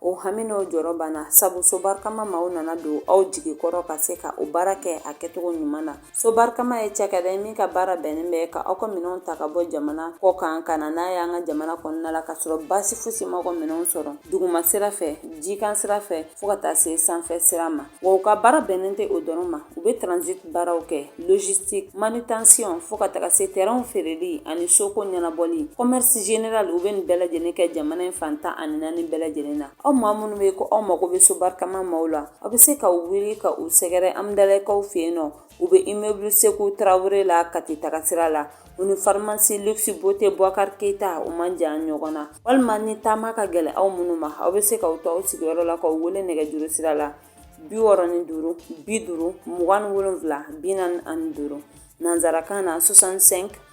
o hami n'o jɔrɔ banna sabu so barikama maaw nana don aw jigi kɔrɔ ka se ka o baara kɛ a kɛcogo ɲuman na so barikama ye cakɛda ye min ka baara bɛnnen bɛ ka aw ka minɛnw ta ka bɔ jamana kɔ kan ka na n'a y'an ka jamana kɔnɔna la ka sɔrɔ baasi fosi ma aw ka minɛnw sɔrɔ duguma sira fɛ jikan sira fɛ fɔɔ ka taa se sanfɛ sira ma Wa u ka baara bɛnnen tɛ o dɔrɔn ma u bɛ transit baaraw kɛ logistique manutention fo ka taga se terrainw feereli ani soko ɲɛnabɔli commerce général u bɛ nin bɛɛ lajɛlen kɛ jamana in fan tan ani naani bɛɛ lajɛlen na aw maa minnu bɛ ko aw mago bɛ so barikama maaw la aw bɛ se ka wuli ka u sɛgɛrɛ Amdalaikaw fɛ yen nɔ U bɛ immeuble Sekou Traore la Kati tagasira la, u ni pharmacie luxe beauté Bouakar Keita u man jan ɲɔgɔn na, walima ni taama ka gɛlɛn aw minnu ma, aw bɛ se k'aw to aw sigiyɔrɔ la ka u wele nɛgɛjuru sira la 65 50 27 45 nanzarakan na 65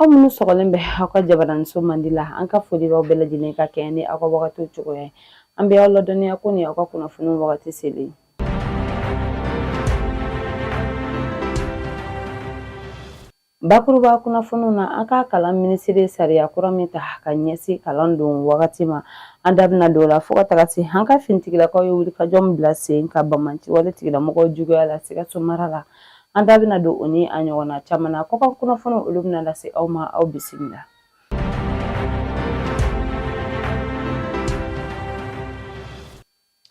Aw minnu sɔgɔlen bɛ aw ka jabaraninso mandi la an ka foli b'aw bɛɛ lajɛlen ka kɛɲɛ ni aw ka wagatiw cogoya ye an bɛ aw ladɔnniya ko ni aw ka kunnafoni wagati selen bakuruba kunnafoniw na an ka kalan minisiri sariya kura min ta ka ɲɛsin kalan don wagati ma an da bɛna don o la fo ka taga se an ka finitigilakaw ye wulikajɔ min bila sen kan bamanci wale tigilamɔgɔw juguya la sikaso mara la An da bɛna don o ni a ɲɔgɔnna caman na kɔkan kunnafoni olu bɛna lase aw ma aw bisimila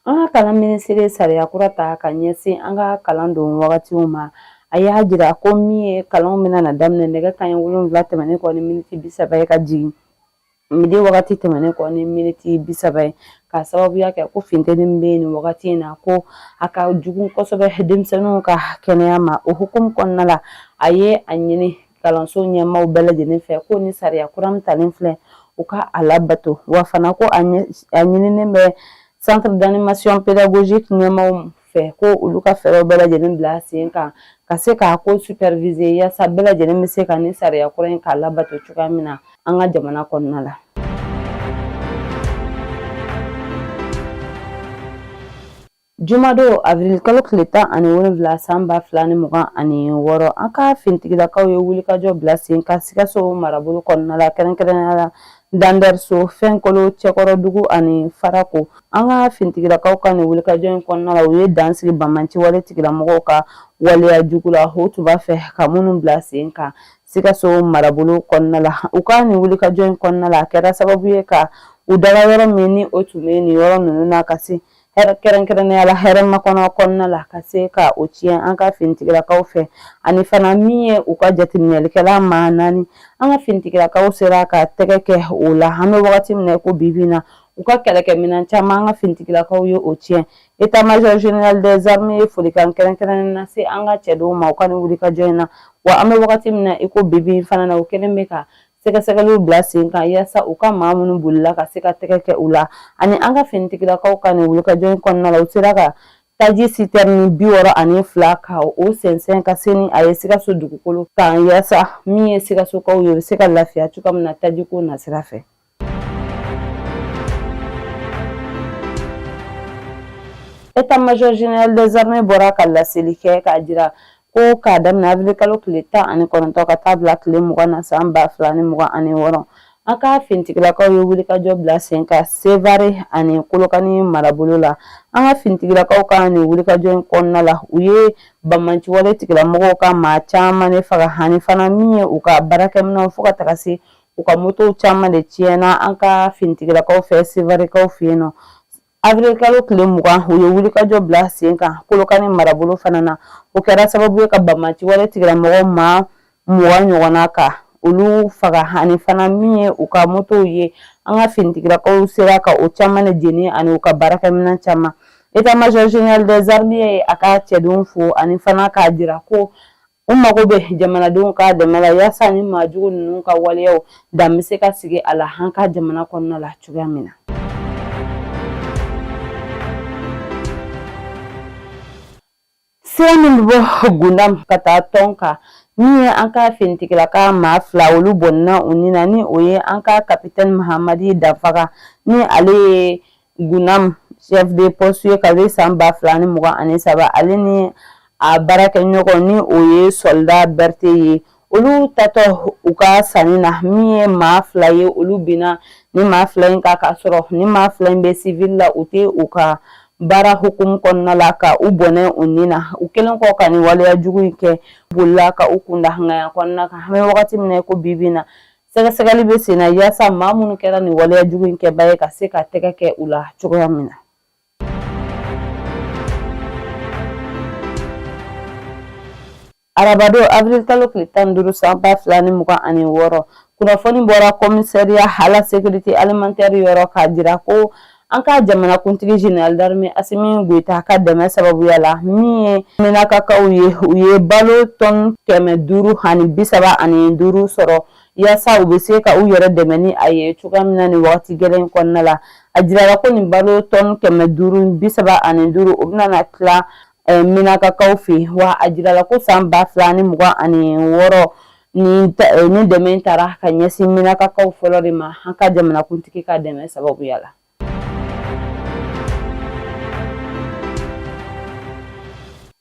an ka kalan minisiri sariya kura ta ka ɲɛsin an ka kalan don wagatiw ma a y'a jira ko min ye kalanw bɛna na daminɛ nɛgɛ kanɲɛ wolonwula tɛmɛnen kɔ ni miniti bi saba ye ka jigin Midi wagati tɛmɛnen kɔ ni miniti bi saba ye ka sababuya kɛ ko funteni bɛ yen nin wagati in na ko a ka jugu kosɛbɛ denmisɛnninw ka kɛnɛya ma o hukumu kɔnɔna la a ye a ɲini kalanso ɲɛmaaw bɛɛ lajɛlen fɛ ko nin sariya kura min talen filɛ u ka a labato wa fana ko a ɲininen bɛ centre d'animation pédagogique ɲɛmaaw fɛ ko olu ka fɛɛrɛw bɛɛ lajɛlen bila sen kan ka se k'a ko superviser yaasa bɛɛ lajɛlen bɛ se ka nin sariya kura in k'a labato cogoya min na an ka jamana kɔnɔna la Jumadon avril kalo tile tan ani wolonwula san ba fila ni mugan ani wɔɔrɔ an ka finitigilakaw ye wulikajɔ bila sen kan sikaso marabolo kɔnɔna la kɛrɛnkɛrɛnnenya la Dandɛriso Fɛnkolo Cɛkɔrɔdugu ani farako an ka finitigilakaw ka nin wulikajɔ in kɔnɔna la u ye dan sigi bamanci wale tigilamɔgɔw ka waleya jugu la o tun b'a fɛ ka minnu bila sen kan sikaso marabolo kɔnɔna la u ka nin wulikajɔ in kɔnɔna la a kɛra sababu ye ka u daga yɔrɔ min ni o tun bɛ nin yɔrɔ ninnu na ka se kɛrɛnkɛrɛnnenya la hɛrɛmakɔnɔ kɔnɔna la ka se ka o tiɲɛ an ka finitigilakaw fɛ ani fana min ye u ka jateminɛlikɛla maa naani an ka finitigilakaw sera ka tɛgɛ kɛ o la an bɛ wagati min na i ko bi bi in na u ka kɛlɛkɛminɛn caman an ka finitigilakaw ye o tiɲɛ état major général des armées ye folikan kɛrɛnkɛrɛnnen nase an ka cɛdenw ma u ka nin wulikajɔ in na wa an bɛ wagati min na i ko bi bi in fana na u kɛlen bɛ ka sɛgɛsɛgɛliw bila sen kan yasa u ka maa minnu bolila ka se ka tɛgɛ kɛ u la ani an ka finitigilakaw ka nin wulikajɔ in kɔnɔna la u sera ka taji sitɛrini bi wɔɔrɔ ani fila ka o sɛnsɛn ka se ni a ye sikaso dugukolo kan yasa min ye sikasokaw ye u bɛ se ka lafiya cogoya min na tajiko nasira fɛ État major général des armées bɔra ka laseli kɛ k'a jira Ko k'a daminɛ avril kalo tile tan ani kɔnɔntɔn ka taa bila tile mugan na san ba fila ni mugan ani wɔɔrɔ an ka finitigilakaw ye wulikajɔ bila sen kan sevare ani kolokani marabolo la an ka finitigilakaw ka nin wulikajɔ in kɔnɔna la u ye banbaanciwale tigilamɔgɔw ka maa caman de faga hani fana min ye u ka baarakɛminɛnw fo ka taga se u ka motow caman de tiɲɛna an ka finitigilakaw fɛ sevarekaw fɛ yen nɔ Avril kalo tile mugan u ye wulikajɔ bila sen kan kolokani marabolo fana na o kɛra sababu ye ka banbaanciwale tigilamɔgɔw maa mugan ɲɔgɔnna ka olu faga ani fana min ye u ka motow ye an ka finitigilakaw sera ka o caman de jeni ani u ka baarakɛminɛn caman état major général des armées ye a ka cɛdenw fo ani fana k'a jira ko U mago bɛ jamanadenw ka dɛmɛ la yaasa ni maajugu ninnu ka waleyaw dan bɛ se ka sigi a la an ka jamana kɔnɔna la cogoya min na. Sira min bɛ bɔ Gundam ka taa Tɔnka min ye an ka finitigilaka maa fila olu bɔnna u ni na ni o ye an ka kapitɛni Mahamadi Danfaga ni ale ye Gundam chef de poste ye kabini san ba fila ni mugan ani saba ale ni a baarakɛɲɔgɔn ni o ye sɔlida Bɛrite ye olu taatɔ u ka sanni na min ye maa fila ye olu binna nin maa fila in kan k'a sɔrɔ nin maa fila in bɛ sivili la u tɛ u ka baara hukumu kɔnɔna la ka u bɔnɛ u ni na u kɛlen kɔ ka nin waleya jugu in kɛ bolila ka u kun da hangaya kɔnɔna kan an bɛ wagati min na ko bi bi in na Sɛgɛsɛgɛli bɛ sen na yaasa maa minnu kɛra nin waleya jugu in kɛbaa ye ka se ka tɛgɛ kɛ u la cogoya min na. Arabadon avril kalo tile tan ni duuru san ba fila ni mugan ani wɔɔrɔ kunnafoni bɔra commissariat à la sécurité alimentaire yɔrɔ k'a jira ko An ka jamanakuntigi général d'armée Asimi Goyita ka dɛmɛ sababuya la, min ye Minakakaw ye, u ye balo tɔn kɛmɛ duuru ani bi saba ani duuru sɔrɔ yaasa u bɛ se ka u yɛrɛ dɛmɛ ni a ye cogoya min na nin wagati gɛlɛn kɔnɔna la. A jirala ko nin balo tɔn kɛmɛ duuru bi saba ani duuru o bɛna na tila eh, Minakakaw fɛ wa a jirala ko san ba fila ani mugan ani wɔɔrɔ Nin dɛmɛ in taara ka ɲɛsin Minakakaw fɔlɔ de ma an ka jamanakuntigi ka dɛmɛ sababuya la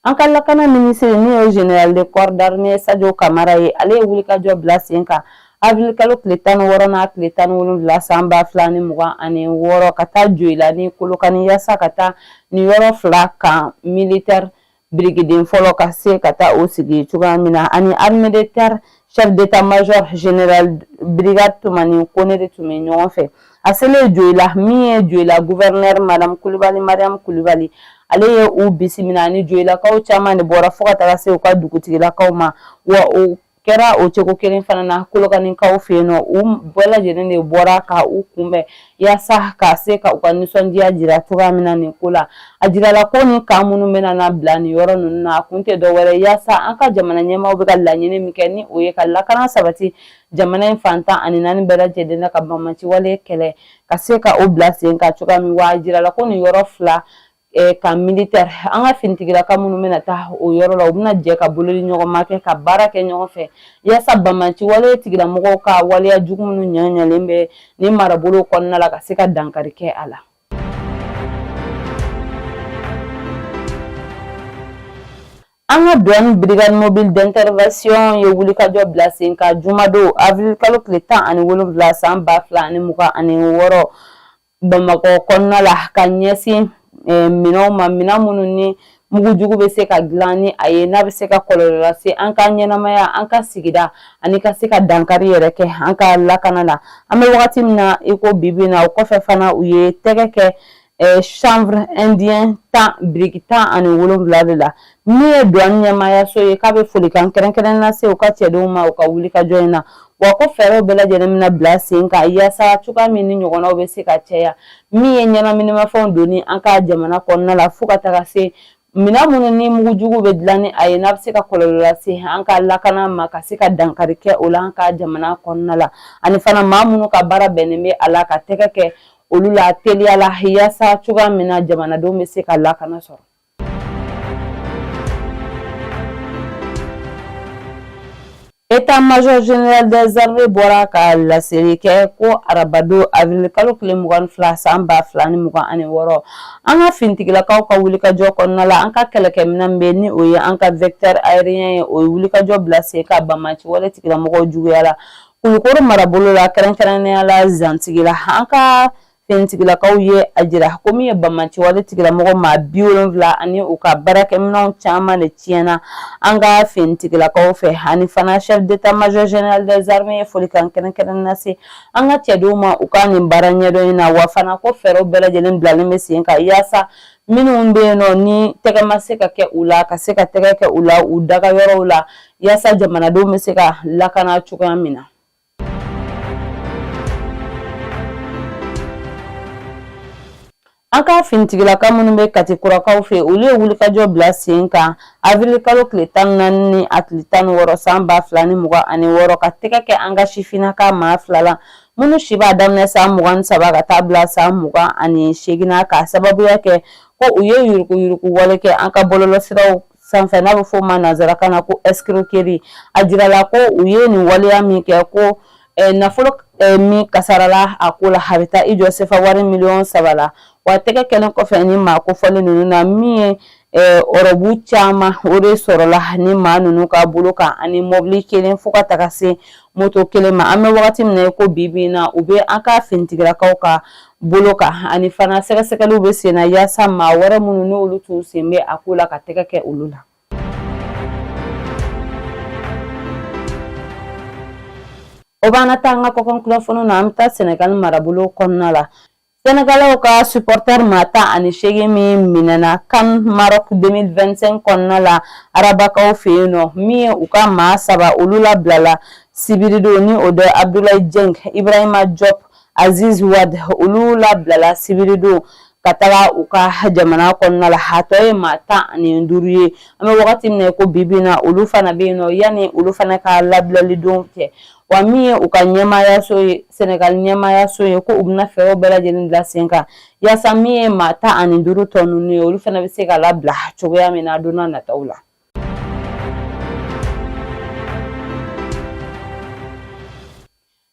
an ka lakana minisiri n'o ye général de corps d'armée Sajo Kamara ye ale ye wulikajɔ bila sen kan avril kalo tile tan ni wɔɔrɔ n'a tile tan ni wolonwula san ba fila ni mugan ani wɔɔrɔ ka taa Joyila ni Kolokani yaasa ka taa nin yɔrɔ fila camp militaire birikiden fɔlɔ ka se ka taa o sigi cogoya min na ani armée de terre chef d'état major général brigade Tumani Kone de tun bɛ ɲɔgɔn fɛ a selen Joyila min ye Joyila gouverneur madame Kulubali Mariam Kulubali ale ye u bisimila ni Joyilakaw caman de bɔra fo ka taga se u ka dugutigilakaw ma wa o kɛra o cogo kelen fana na Kolokanikaw fɛ yen nɔ u bɛɛ lajɛlen de bɔra ka u kunbɛn yaasa ka se ka u ka nisɔndiya jira cogoya min na nin ko la a jirala ko nin camp minnu bɛna na bila nin yɔrɔ ninnu na a kun tɛ dɔwɛrɛ yaasa an ka jamana ɲɛmaaw bɛ ka laɲini min kɛ ni o ye ka lakana sabati jamana in fan tan ani naani bɛɛ lajɛlen na ka banbaanci wale kɛlɛ ka se ka o bila sen kan cogoya min wa a jirala ko nin yɔrɔ fila camp militaire an ka finitigilaka minnu bɛna taa o yɔrɔ la u bɛna jɛ ka bolodiɲɔgɔnma kɛ ka baara kɛ ɲɔgɔn fɛ yaasa banbaanci wale tigilamɔgɔw ka waleya jugu minnu ɲagalen bɛ nin marabolo kɔnɔna la ka se ka dankari kɛ a la an ka duwan brigade mobile d'intervention ye wulikajɔ bila sen kan jumadon avril kalo tile tan ani wolonwula san ba fila ani mugan ani wɔɔrɔ Bamakɔ kɔnɔna la ka ɲɛsin eh, minɛnw ma minɛn minnu ni mugu jugu bɛ se ka dilan ni a ye n'a bɛ se ka kɔlɔlɔ lase an ka ɲɛnamaya an ka sigida ani ka se ka dankari yɛrɛ kɛ an ka lakana la an bɛ wagati min na i ko bibi na o kɔfɛ fana u ye tɛgɛ kɛ eh, chanvre indien tan biriki tan ani wolonwula de la Min ye duwan ɲɛmaayaso ye k'a bɛ folikan kɛrɛnkɛrɛnnen lase u ka cɛdenw ma u ka wulikajɔ in na wa ko fɛɛrɛw bɛɛ lajɛlen bɛna bila sen kan yaasa cogoya min nin ɲɔgɔnnaw bɛ se ka caya min ye ɲɛnaminimafɛnw donni an ka jamana kɔnɔna la fo ka taga se minɛn minnu ni mugujugu bɛ dilan ni a ye n'a bɛ se ka kɔlɔlɔ lase an ka lakana ma ka se ka dankari kɛ o la an ka jamana kɔnɔna la ani fana maa minnu ka baara bɛnnen bɛ a la ka tɛgɛ kɛ olu la teliya la yaasa cogoya min na jamanadenw bɛ se ka lakana sɔrɔ État major général des armées bɔra ka laseli kɛ ko arabado avril kalo tile mugan ni fila san ba fila ni mugan ani wɔɔrɔ an ka finitigilakaw ka wulikajɔ kɔnɔna la an ka kɛlɛkɛminɛn bɛ ni o ye an ka vecteur aérien ye o ye wulikajɔ bila sen kan banbaanci wale tigilamɔgɔw juguya la kulukoro marabolo la kɛrɛnkɛrɛnnenya la zantigila an ka finitigilakaw ye a jira ko min ye banbaanci wale tigilamɔgɔ maa bi wolonfila ani u ka baarakɛminɛnw caman de tiɲɛna an ka finitigilakaw fɛ ani fana chef d'état major général des armées ye folikan kɛrɛnkɛrɛnnen lase an ka cɛdenw ma u ka nin baara ɲɛdɔn in na wa fana ko fɛɛrɛw bɛɛ lajɛlen bilalen bɛ sen kan yaasa minnu bɛ yen nɔ ni tɛgɛ ma se ka kɛ u la ka se ka tɛgɛ kɛ u la u daga yɔrɔw la yaasa jamanadenw bɛ se ka lakana cogoya min na An ka finitigilaka minnu bɛ kati kurakaw fɛ olu ye wulikajɔ bila sen kan avril kalo tile tan ni naani ni a tile tan ni wɔɔrɔ san ba fila ni mugan ani wɔɔrɔ ka tɛgɛ kɛ an ka sifinnaka maa fila la minnu si b'a daminɛ san mugan ni saba ka taa bila san mugan ani seegin na k'a sababuya kɛ ko u ye yuruguyurugu wale kɛ an ka bɔlɔlɔsiraw sanfɛ n'a bɛ f'o ma nanzarakan na ko escroquerie a jirala ko u ye nin waleya min kɛ ko eh, nafolo eh, min kasarala a ko la a bɛ taa i jɔ sefa wari miliyɔn saba la wa tɛgɛ kɛlen kɔfɛ ni maa kofɔlen ninnu na min ye eh, ɔrɔbu caman o de sɔrɔla ni maa ninnu ka bolo kan ani mɔbili kelen fo ka taga se moto kelen ma an bɛ wagati min na ko bi bi in na u bɛ an ka finitigilakaw ka bolo kan ani fana sɛgɛsɛgɛliw bɛ sen na yaasa maa wɛrɛ minnu n'olu tun sen bɛ a ko la ka tɛgɛ kɛ olu la o b'an na taa an ka kɔkan kunnafoniw na an bɛ taa sɛnɛgali marabolo kɔnɔna la sɛnɛgalɛw ka supporter maa tan ani seegin min minɛna CAN Maroc 2025 kɔnɔna la arabakaw fɛ yen nɔ min ye u ka maa saba olu labilala sibiridon ni o de abdulayi jeng ibrahima jɔp Aziz Wad olu labilala sibiridon ka taga u ka jamana kɔnɔna la a tɔ ye maa tan ani duuru ye an bɛ wagati min na ko bi bi in na olu fana bɛ yen nɔ yanni olu fana ka labilali don cɛ wa min ye u ka ɲɛmaayaso ye sɛnɛgal ɲɛmaayaso ye ko u bɛna fɛɛrɛw bɛɛ lajɛlen bila sen kan yaasa min ye maa tan ani duuru tɔ ninnu ye olu fana bɛ se ka labila cogoya min na don n'a nataw la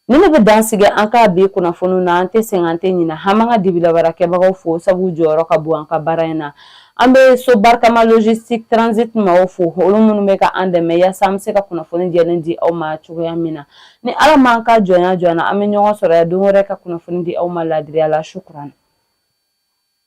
Nin de bɛ dan sigi an ka bi kunnafoniw na an tɛ sɛgɛn an tɛ ɲina an m'an ka dibi la baarakɛbagaw fo sabu jɔyɔrɔ ka bon an ka baara in na an bɛ so barikama logistique transit maaw fo olu minnu bɛ ka an dɛmɛ yaasa an bɛ se ka kunnafoni jɛlen di aw ma cogoya min na ni ala m'an ka jɔnya jɔn na an bɛ ɲɔgɔn sɔrɔ yan don wɛrɛ ka kunnafoni di aw ma laadiriya la shukran